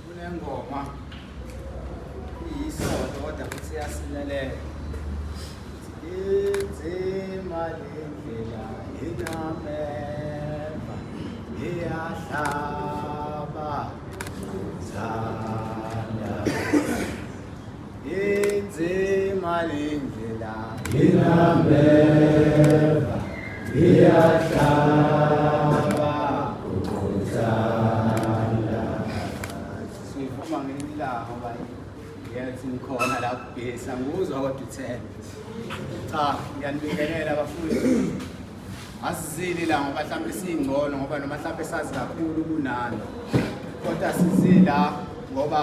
Kunengoma iyisonto kodwa futhi iyasilelela. Inzima le ndlela inameva iyahlaba zanda. inzima indlela inambeva iyahlaba ukuthanda siphuma ngelilanga ngoba ngiyathi ngikhona la kugesa ngikuzwa kodwa uthele cha ngiyanibingelela bafundi asizile la ngoba mhlawumbe siyingcono ngoba noma mhlawumbe sazi kakhulu kunani kodwa sizila ngoba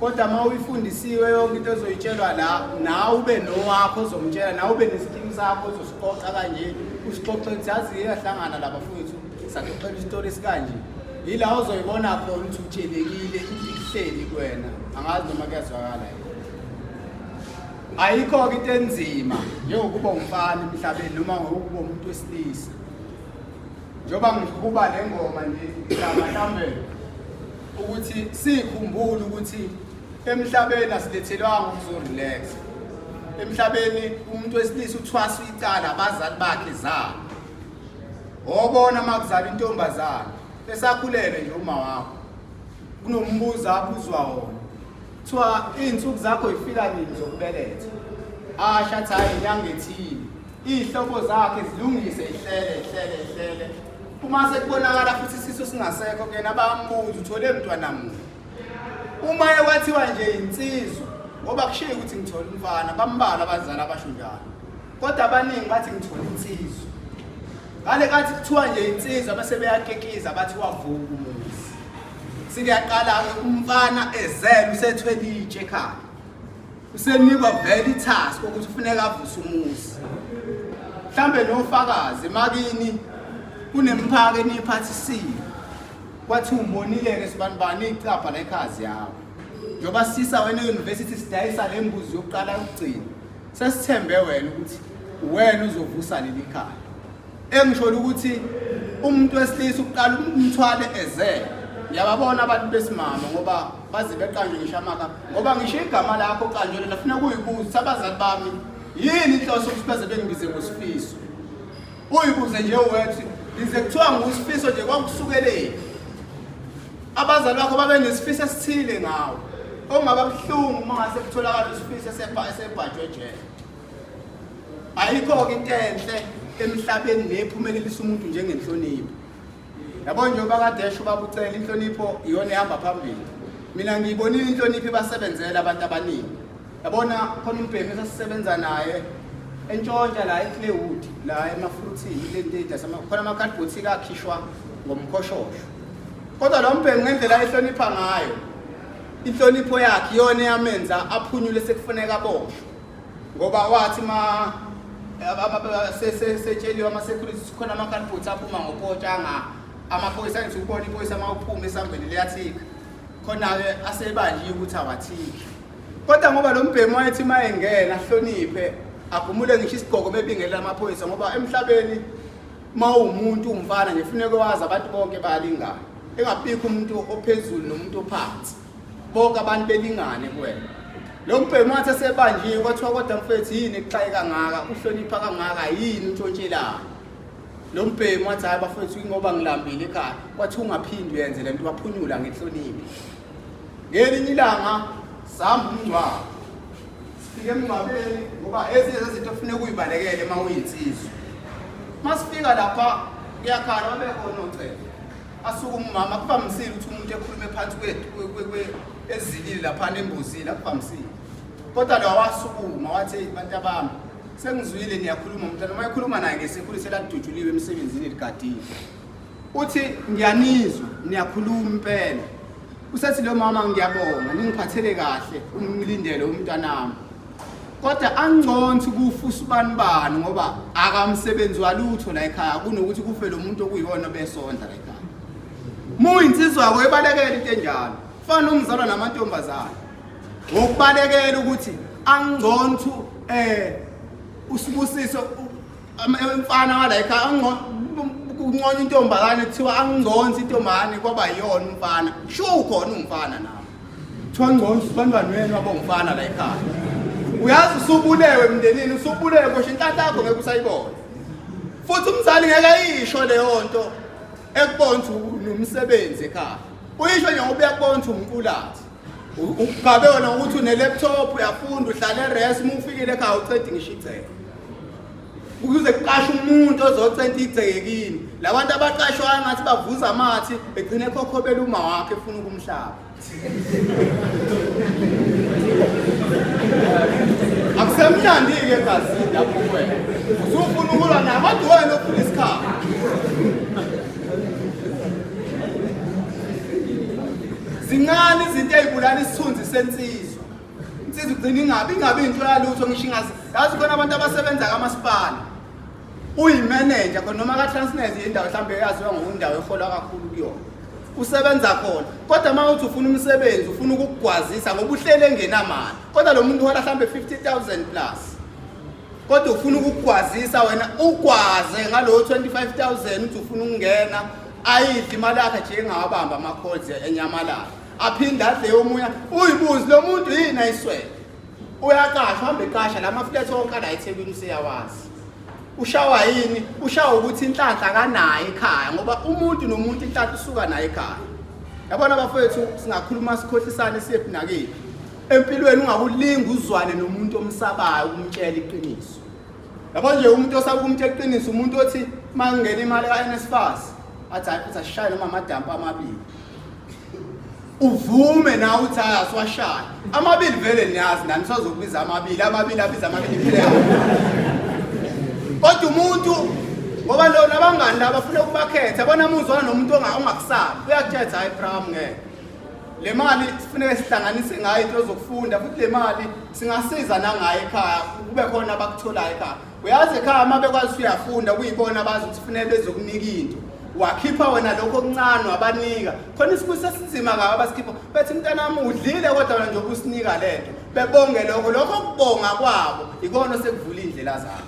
kodwa uma uyifundisiwe yonke into ezoyitshelwa la nawe ube nowakho ozomtshela nawe ube nesikimu sakho ozosixoxa kanje usixoxe ukuthi yazi iyahlangana laba fowethu saxoxela isitori esikanje yila ozoyibona khona ukuthi utshelekile ihleli kwena angazi noma kuyazwakala ayikho-ke into enzima njengokuba umfana emhlabeni noma ngokuba umuntu wesilisa njengoba ngiqhuba le ngoma nje ngizama mhlawumbe ukuthi sikhumbule ukuthi emhlabeni asilethelwanga ukuzorelax emhlabeni umuntu wesilisa uthwasa icala abazali bakhe zabo wobona uma kuzala intombazane esakhulele nje uma wakho kunombuzo abuzwa wona kuthiwa iy'nsuku zakho yifika nini zokubeletha asho athi hhayi inyanga ethile Iy'hlobo zakhe zilungise ihlele ihlele ihlele uma sekubonakala futhi isisu singasekho kuyena bayambuza uthole mntwana muni uma ekwathiwa nje yinsizwa ngoba kushiye ukuthi ngithole umfana bambala abazali abasho njalo kodwa abaningi bathi ngithole insizwa ngale kathi kuthiwa nje insizwa bese beyakekiza bathi wavuka umuzi sikuyaqala-ke umfana ezele usethwelitshe ekhaya usenikwa vele itask ukuthi ufuneka avuse umuzi mhlambe nofakazi makini kunemphaka eniyiphathisile kwathi umonile-ke sibanibani icabha la ekhazi yawo njengoba sisa wena e-university sidayisa le mbuzi yokuqala yokugcina sesithembe wena ukuthi wena uzovusa leli khaya Engisholo ukuthi umuntu wesilisa ukuqala umthwale eze ngiyababona abantu besimama ngoba baze beqanjwe ngisho amaka ngoba ngisho igama lakho qanjwele lafuna kuyibuza abazali bami yini inhloso ukuthi baze bengibize ngosifiso uyibuze nje wethi ngize kuthiwa ngusifiso nje kwakusukeleni abazali bakho babe nesifiso esithile ngawo ongaba buhlungu uma ngase kutholakala isifiso esebhajwe jele ayikho-ke into enhle emhlabeni nephumelelisa umuntu njengenhlonipho yabo nje ubakadesha ubabucela inhlonipho iyona ehamba phambili mina ngiyibonile inhlonipho ibasebenzela abantu abaningi yabona khona umbhemi esasisebenza naye entshontsha la eclaywood la emafruthini khona amakhadibhothi kakhishwa ngomkhoshosho kodwa lo mbhemi ngendlela ehlonipha ngayo inhlonipho yakhe iyona eyamenza aphunyule sekufuneka boshwe ngoba wathi ma setsheliwe ama-security sikhona ama-calboots aphuma ngopotshanga amaphoyisa ngithi ukubona iphoyisa uma uphuma esangweni liyathika khona-ke asebanjiye ukuthi awathiki kodwa ngoba lo mbhemu wayethi uma engena ahloniphe agumule ngisho isigqoko bebingelela amaphoyisa ngoba emhlabeni uma uwumuntu umfana nje funeke wazi abantu bonke bayalingana engabikho umuntu ophezulu nomuntu ophansi bonke abantu belingane kuwena lo mbhemu wathi esebanjiwe kwathiwa kodwa mfethu yini ekuxaye kangaka uhlonipha kangaka yini untshontshelana lo mbhemu wathi hhayi bafethu ingoba ngilambile ekhaya kwathiwa ungaphindi uyenze le nto baphunyula ngenhloniphi ngelinye ilanga sihamba umngcwabo sifike emngcwabeni ngoba ezinye zezinto ofune kuyibalekele uma uyinsizwa uma sifika lapha kuyakhala babekhona ocela asuke umama akuvamisile ukuthi umuntu ekhulume phansi ezilile laphana embuzile akuvamisile kodwa lo wasukuma wathi eyi bantu abami sengizwile niyakhuluma mntana uma ekhuluma naye ngesekhulu seladutshuliwe emsebenzini ligadile uthi ngiyanizwa niyakhuluma impela usethi lo mama ngiyabonga ningiphathele kahle umlindele umntanami kodwa anconsi ukufa usibani bani ngoba akamsebenzi walutho la ekhaya kunokuthi kufe lo muntu okuyona besondla la ekhaya muyinsizwa yakho ebalekela into enjalo fana nomzalwa namantombazane ngokubalekela ukuthi anconsi um usibusiso Umfana wala ekhaya kunconya intombazane kuthiwa anginconsi intombazane kwaba yona umfana. Sho ukhona umfana nawe. Kuthiwa nconsi bantwana wenu abongifana la ekhaya. Uyazi usubulewe emndenini usubulewe kosho inhlanhla yakho ngeke usayibona. Futhi umzali ngeke ayisho leyo nto ekubona ukuthi nomsebenzi ekhaya. Uyisho nje ngoba uyakubona ukuthi umqulathi. ugabe wena ukuthi une-laptop uyafunda uhlale eres uma ufikile ekhaya ucedi ngisho igceke ukuze kuqashe umuntu ozocenta igceke kini la bantu abaqashwayo ngathi bavuza amathi begcine ekhokhobela uma wakhe efuna ukumhlaba akusemnandi-ke egazini lapho wena usufuna ukulwa namadwena ofuna isikhathi zincane izinto ey'bulala isithunzi sensizwa insizwa ugcina ingabi ingabi into yalutho ngisho ingazi yazi khona abantu abasebenza kamasipala uyimeneja khona noma ka-transnet yendawo mhlawumbe yaziwa ngokundawo eholwa kakhulu kuyona usebenza khona kodwa uma uthi ufuna umsebenzi ufuna ukukugwazisa ngoba uhlele engenamali kodwa lo muntu uhola mhlawumbe 50 000 plus kodwa ufuna ukugwazisa wena ugwaze ngalowo 25 000 uthi ufuna ukungena ayidli imali yakhe nje engawabambi amakhozi enyamalala aphinde adle yomunye uyibuzi lo muntu yini ayiswele uyaqashwa hamba eqasha la maflethi onke ala ethekwini useyawazi ushawa yini ushawa ukuthi inhlanhla kanayo ekhaya ngoba umuntu nomuntu inhlanhla usuka nayo ekhaya yabona abafowethu singakhuluma sikhohlisane siyephi nakephi empilweni ungakulinga uzwane nomuntu omsabayo ukumtshela iqiniso yabo nje umuntu osaba ukumthi eqinisa umuntu othi uma ngingena imali ka-nsfas athi hayi futhi asishaye noma amadampu amabili uvume na uthi hayi asiwashaye amabili vele niyazi nani sazokubiza amabili amabili abiza amabili phile kodwa umuntu ngoba lo nabangani laba funa ukubakhetha bona muzwana nomuntu ongakusabi uyakuthetha hayi pram ngeke Le mali sifuneka sihlanganise ngayo into zokufunda futhi le mali singasiza nangayo ekhaya kube khona abakutholayo ekhaya. Uyazi ekhaya uma bekwazi uyafunda kuyibona abazi ukuthi kufanele bezokunika into. Wakhipha wena lokho okuncane wabanika. Khona isibusi esinzima ngabo abasikhipha. Bethi mntanami udlile kodwa wena nje ubusinika lento. Bebonge lokho lokho kubonga kwabo ikona sekuvula indlela zabo.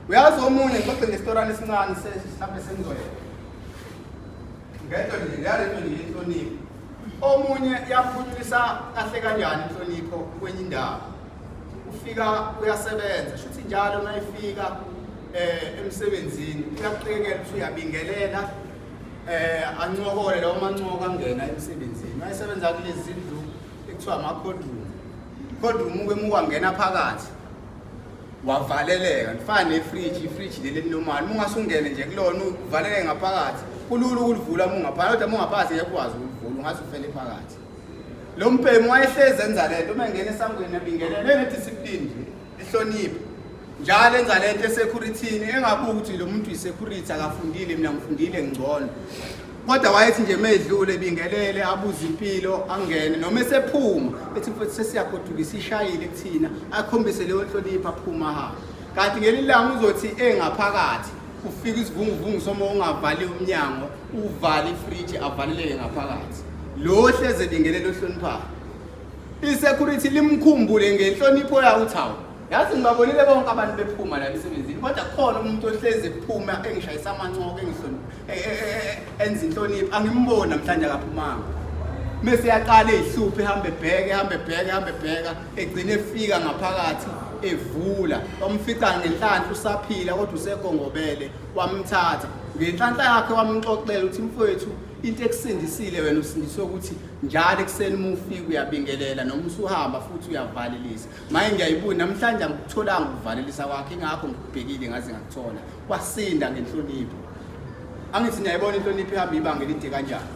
Uyazi omunye ngixoxe ngestorana esincane se- mhlawumbe sengizoyeka. ngento nje ngale nto nje yenhlonipho omunye yaphunyulisa kahle kanjani inhlonipho kwenye indawo ufika uyasebenza shuthi njalo uma efika eh emsebenzini uyakuqekela ukuthi uyabingelela eh ancokole lawo mancoka angena emsebenzini mayesebenza kulezi zindlu ekuthiwa ama-cold room cold room uke mukwangena phakathi wavaleleka ndifana nefriji ifriji leli elinomali uma ungase ungene nje kulona uvaleleke ngaphakathi kulula ukulivula uma ungaphakathi kodwa uma ungaphakathi ngeke ukwazi ukulivula ungase ufele phakathi lo mbhemu wayehlezi enza le nto uma engena esangweni ebingelele enediscipline nje ehloniphe njalo enza le nto esekhurithini engabuki ukuthi lo muntu yisecurity akafundile mina ngifundile ngcono kodwa wayethi nje medlule ebingelele abuze impilo angene noma esephuma ethi mfowethu sesiyagoduka isishayile kuthina akhombise leyo nhlonipho aphuma hamba kanti ngelinye langa uzothi engaphakathi ufika isivunguvungu soma ungavali umnyango uvale ifriji avaleleke ngaphakathi lo hleze bingelele ohloniphayo i-security limkhumbule ngenhlonipho yawo uthi hawu Yazi ngibabonile bonke abantu bephuma la emsebenzini kodwa khona umuntu ohlezi ephuma engishayisa amancoko engihloni e- e- e- e- enza inhlonipho angimboni namhlanje akaphumanga. Mese yaqala ihluphe ehambe ebheke ehambe ebheke ehambe ebheka egcine efika ngaphakathi evula wamfica ngenhlanhla usaphila kodwa usegongobele wamthatha ngenhlanhla yakhe wamxoxela ukuthi mfowethu into ekusindisile wena usindiswe ukuthi njalo ekuseni uma ufika uyabingelela noma usuhamba futhi uyavalelisa Maye ngiyayibuya namhlanje angikutholanga ukuvalelisa kwakhe ingakho ngikubhekile ngaze ngakuthola wasinda ngenhlonipho angithi niyayibona inhlonipho ihamba ibanga elide kanjani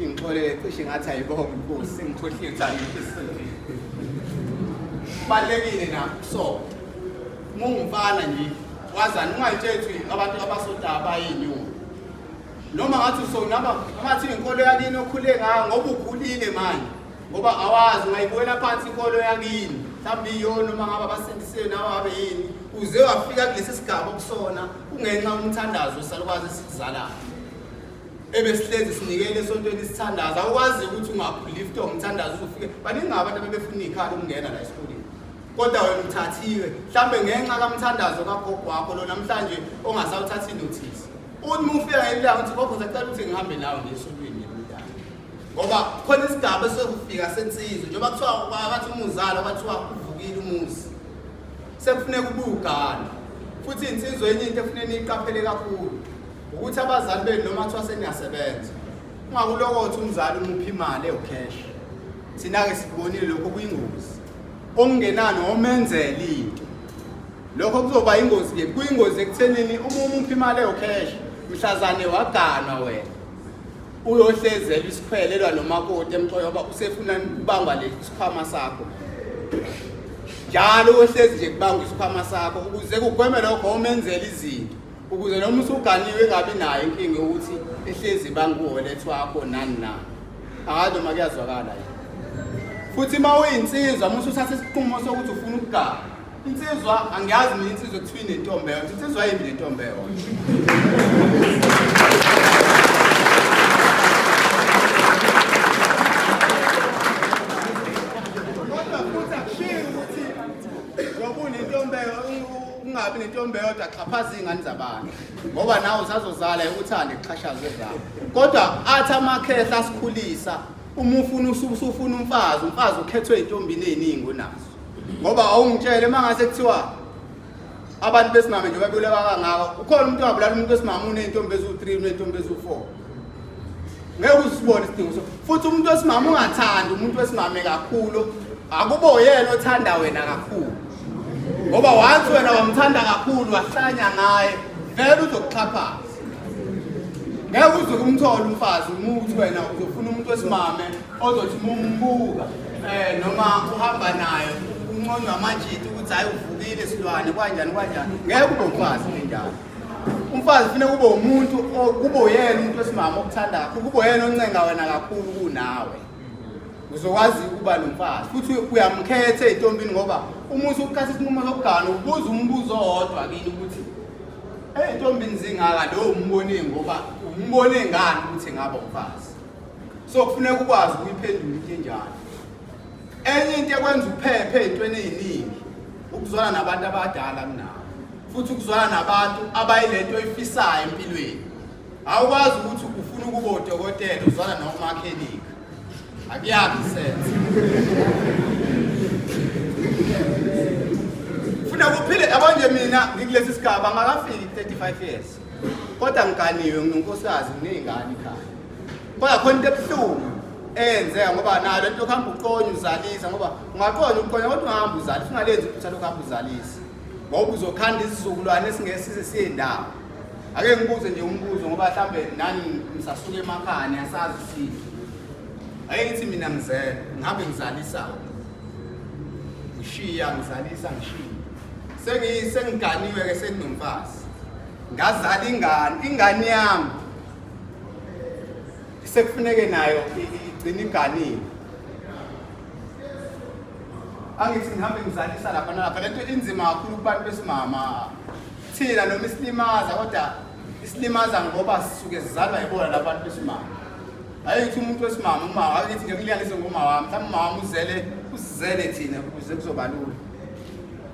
ingixolele cishe ngathi ayibonga inkosi sengikhohlile ukuthi kubalulekile na so mungumfana nje wazani ungayitsheli ukuthi abantu abasodaba abayinyoni noma ngathi usonaba ngathi inkolo yakini okhule ngayo ngoba ukhulile manje ngoba awazi ungayibuwela phansi inkolo yakini mhlawumbe iyona uma ngabe abasindisiwe nawe abe yini uze wafika kulesi sigaba okusona kungenxa umthandazo wesalukwazi esikuzalayo ebe sihlezi sinikele esontweni isithandazo awukwazi ukuthi ungaphulifta umthandazo uzofike baningi abantu abebefuna iy'khala ukungena la esikoleni kodwa wena uthathiwe mhlawumbe ngenxa kamthandazo kagogo wakho lo namhlanje ongasawuthathi inothisi uthi uma ufika ngelilanga uthi gogo zacela ukuthi ngihambe nawe ngesontweni ngoba khona isigaba esokufika sensizwe njengoba kuthiwa kwakathi umuzalo kwathiwa uvukile umuzi sekufuneka ubugana futhi insizwe enye into efuneka niyiqaphele kakhulu ukuthi abazali benu noma kuthiwa seniyasebenza ungakulokothi umzali umuphi imali ewucash thina-ke sikubonile lokho kuyingozi okungenani omenzela into lokho kuzoba ingozi-ke kuyingozi ekuthenini uma umuphi imali ewucash mhlazane waganwa wena uyohlezela isikhwele elwa nomakoti emxoyo ngoba usefuna ukubangwa le sikhwama sakho njalo uyohlezi nje kubangwa isikhwama sakho ukuze kugweme lokho omenzela izinto ukuze noma usuganiwe engabi nayo inkinga ukuthi ehlezi banguholethwa wakho nani na akazi noma kuyazwakala yini futhi uma uyinsizwa uma usuthatha isiqumo sokuthi ufuna ukugaba Insizwa angiyazi mina insizwa kuthiwa inentombi eyodwa. Insizwa yini nentombi eyodwa? Kodwa futhi akushiyi ukuthi ngoba unentombi eyo- u- ungabi nentombi eyodwa axhaphaza iy'ngane zabantu ngoba nawe usazozala uthande kuxhashazwe zawo kodwa athi amakhehla asikhulisa uma ufuna usu- usufuna umfazi umfazi ukhethwe ey'ntombini ey'ningi onazo ngoba awungitshele uma ngase kuthiwa abantu besimame nje babuleka kangaka ukhona umuntu ongabulala umuntu wesimame uney'ntombi eziwu-three uney'ntombi eziwu-four ngeke uzisibone isidingo so futhi umuntu wesimame ungathandi umuntu wesimame kakhulu akubo yena othanda wena kakhulu ngoba wansi wena wamthanda kakhulu wahlanya ngaye vele uzokuxhaphaza ngeke uzuke umthole umfazi umuthi wena uzofuna umuntu wesimame ozothi mumbuka eh noma uhamba naye unqonywa amajiti ukuthi hayi uvukile silwane kwanjani kwanjani ngeke ube umfazi njalo umfazi fune kube umuntu kube uyena umuntu wesimama okuthanda kakhulu kube uyena oncenga wena kakhulu kunawe uzokwazi ukuba nomfazi futhi uyamkhetha ey'ntombini ngoba uma usukukhatha isinqumo sokugana ubuza umbuzo owodwa kini ukuthi ey'ntombini zingaka lowo umbone ngoba umbone ngani ukuthi ngaba umfazi so kufuneka ukwazi ukuyiphendula into enjalo enye into ekwenza uphephe ezintweni eziningi ukuzwana nabantu abadala kunawo futhi ukuzwana nabantu abayilento oyifisayo empilweni awukwazi ukuthi ufuna ukuba udokotela uzwana nomakhenika akuyakhi sense funa kuphile abanje mina ngikulesi sigaba ngakafiki 35 years kodwa ngiganiwe nginunkosikazi nginey'ngane ekhaya kodwa khona into ebuhlungu eyenzeka ngoba nayo lento yokuhamba uqonye uzalisa ngoba ungaqonye uqonye kodwa ungahamba uzalisa ungalenzi iphutha lokuhamba uzalisa ngoba uzokhanda isizukulwane esingesize siye ndawo ake ngibuze nje umbuzo ngoba mhlawumbe nani ngisasuke emakhaya niyasazi isintu ake ngithi mina ngizele ngihambe ngizalisa ngishiya ngizalisa ngishiya sengiganiwe-ke senginomfazi ngazala ingane ingane yami sekufuneke nayo igcina inganile angithi ngihambe ngizalisa lapha nalapha lento inzima kakhulu kubantu besimama thina noma isilimaza kodwa isilimaza ngoba sisuke sizalwa yibona labantu besimama hayi ukuthi umuntu wesimama umama akithi ngekuliyanise ngomawami mhlawumbe umawami uzele usizele thina ukuze kuzobalula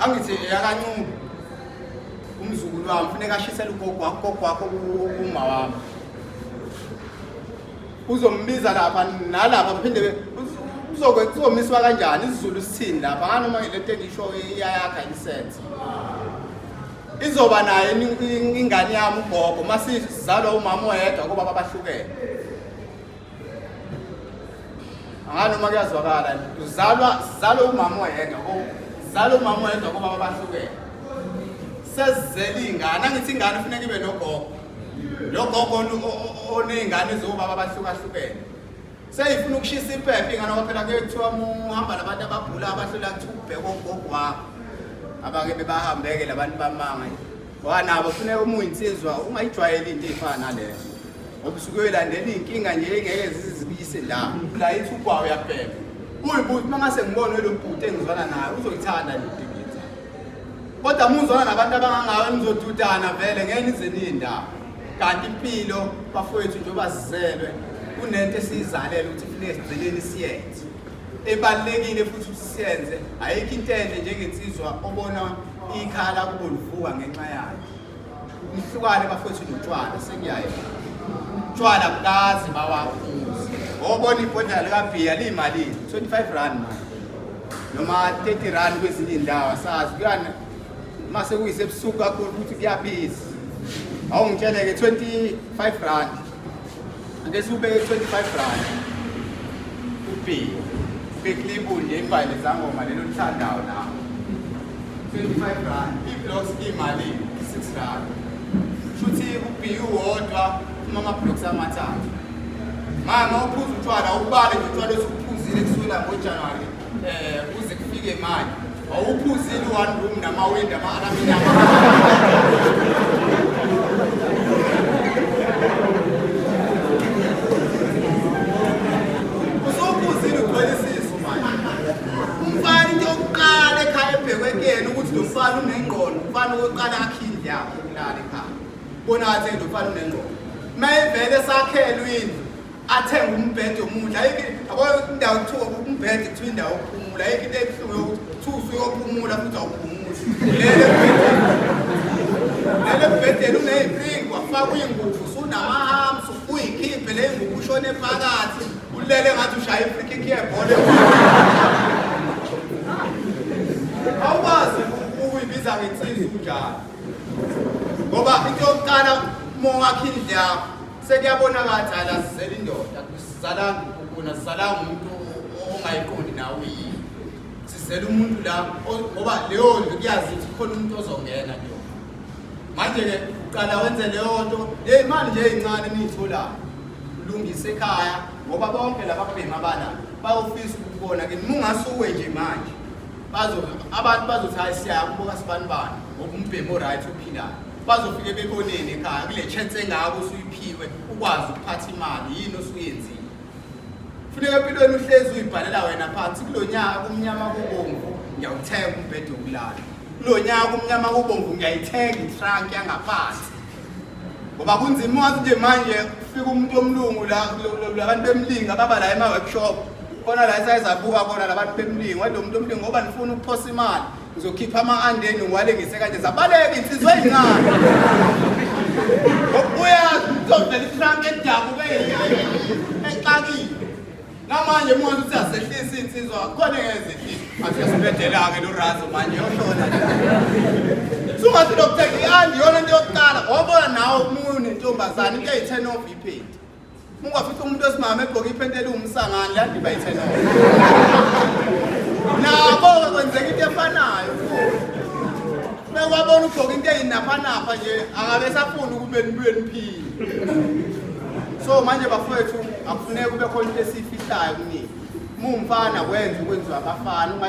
angithi eyakancube umzukulu wami funeka ashisele ugogo wakho gogo wakho uma wami uzombiza lapha nalapha phinde uzomiswa kanjani isizulu sithini lapha nganoma le nto engisho iyayakha insense izoba naye ingane yami ugogo uma sizalwa umama oyedwa ngoba babahlukene ngani uma kuyazwakala uzalwa sizalwe umama oyedwa ko sizalwe umama oyedwa kobaba bahlukene sesizele iy'ngane angithi ingane kufuneka ibe nogogo lo gogo oney'ngane zobaba abahlukahlukene seyifuna ukushisa impepha ingane ngoba phela kuye kuthiwa muhamba labantu abagula abahlela kuthiwa ubheke ogogo wakho abake bebahambeke labantu bamanga Wanabo funeka uma uyinsizwa ungayijwayeli into eyifana naleyo ngoba usuke uyolandela iy'nkinga nje engeke zizibuyise la la ithi ubhawa uyabheka uyibhuti uma ngase ngibone lo bhuti engizwana naye uzoyithanda le nto kodwa muzwana nabantu abangangawe nizodudana vele ngeke nize niyindawo kanti impilo bafowethu njengoba sizelwe kunento esiyizalele ukuthi funeke sigcineni siyenze ebalulekile futhi ukuthi siyenze ayikho into enhle njengensizwa obona ikhala kubo livuka ngenxa yayo umhlukane bafowethu notshwala sekuyaye utshwala bukazi bawaphuzi obona ibhodlela likabhiya liyimalini 25 rand manje noma 30 rand kwezinye iy'ndawo asazi kuyana uma sekuyisebusuku kakhulu ukuthi kuyabiza awungitshele-ke 25 rand Ake siwubeke 25 rand. Ubhiyo. Beklibu nje ibhayile zangoma lelo lithandayo nawo. 25 rand. Iblocks imali 6 rand. Shuthi ubhiyo wodwa uma amablocks amathathu. Mama uphuza utshwala ubale nje utshwala osuphuzile kusukela ngoJanuary Eh kuze kufike manje. Awuphuzile one room namawindi ama-alamina. Usophuzile ugcwele isisu manje. Umfana into yokuqala ekhaya ebhekwe kuyena ukuthi lo mfana unengqondo. Umfana okokuqala akhe indlu yakhe yokulala ekhaya. Bona athi lo mfana unengqondo. Uma evele sakhelwe indlu athenge umbhede omuhle ayikho yabo indawo kuthiwa umbhede kuthiwa indawo yokuphumula ayikho into ebuhlungu yokuthi kuthiwa usuyophumula futhi awuphumuli lele lele bhedeni uneyipringi wafaka uyingubo usunamahams uyikhiphe le ngubo ushone phakathi ulele ngathi ushaya ifrikiki yebhola awukwazi ukuyibiza ngensizi kunjalo ngoba into yokuqala uma ungakhindle yakho Sekuyabona ngathi hayi azizeli indoda sizalanga ukuna sizalanga umuntu ongayiqondi nawe yini. Sizela umuntu la o- ngoba leyo nto kuyazi ukuthi khona umuntu ozongena kuyo. Manje ke uqala wenze leyo nto hey manje nje incane niyitholayo. Ulungise ekhaya ngoba bonke laba bhema bana bayofisa ukubona ke mungasuwe nje manje. Bazo abantu bazothi hayi siyakubuka sibanibani ngoba umbhemo right ophilayo. bazofike beboneni ekhaya kule chance engako usuyiphiwe ukwazi ukuphatha imali yini osuyenzile funeka empilweni uhlezi uyibhalela wena phansi kulo nyaka kumnyama kubomvu ngiyawuthenga umbhede wokulala kulo nyaka kumnyama kubomvu ngiyayithenga itrunk yangaphansi ngoba kunzima wazi nje manje kufika umuntu omlungu la labantu bemlinga baba la ema-workshop khona la esayizabuka khona labantu bemlingo wade umuntu omlingo ngoba nifuna ukuphosa imali Uzokhipha ama-andeni uwalengise kanje zabaleke insizwa eyincane. Uyazi uzovela ifrank edabuke exakile. Namanje manje uthi asehlisa insizwa khona ngezehlisa. Athi sibedela-ke lo razo manje yoshona. Sungathi lokuthenga i-andi yona into yokuqala wabona nawe umuntu nentombazane into eyi-turn off iphethi. Ungafica umuntu esimama egqoke iphenti eliwumsangani la debate no. Nabo kwenzeka into efanayo. Bewabona ugqoka into eyinapha napha nje akabe safuna ukube nibuye niphile. So manje bafowethu akufuneki kube khona into esifihlayo kunini. Mumfana kwenza ukwenziwa abafana uma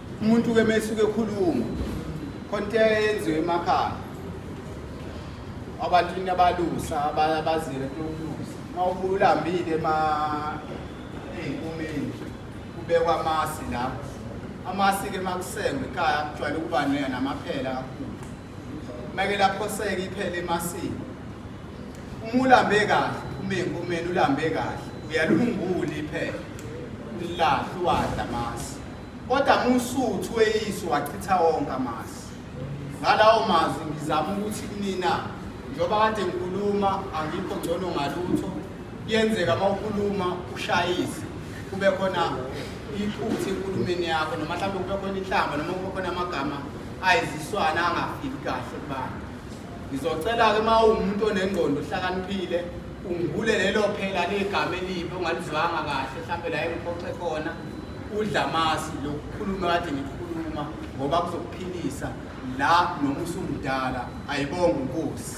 umuntu ke mesuke ekhuluma konke yenziwe emakhaya abantu inabalusa abazile lokulusa mawubulambile ma eyinkumeni kubekwa amasi la amasi ke makusengwe ekhaya kujwayele ukuba namaphela kakhulu make lapho seke iphele emasini uma ulambe kahle uma eyinkumeni ulambe kahle uyalungula iphela ulahle uwadla amasi Kodwa muSuthu weyiso wachitha wonke amasi. Ngalawo mazwi ngizama ukuthi kunina njengoba kade ngikhuluma angikho ngcono ngalutho kuyenzeka uma ukhuluma ushayise kube khona iphutha enkulumeni yakho noma mhlawumbe kube khona inhlamba noma kube khona amagama ayiziswana angafiki kahle kubantu ngizocela-ke uma uwumuntu onengqondo ohlakaniphile ungibule lelo phela legama elibi ongalizwanga kahle mhlawumbe la engiphoxe khona udlamasi lokukhuluma kade ngikhuluma ngoba kuzokuphilisa la noma usumdala ayibonge inkosi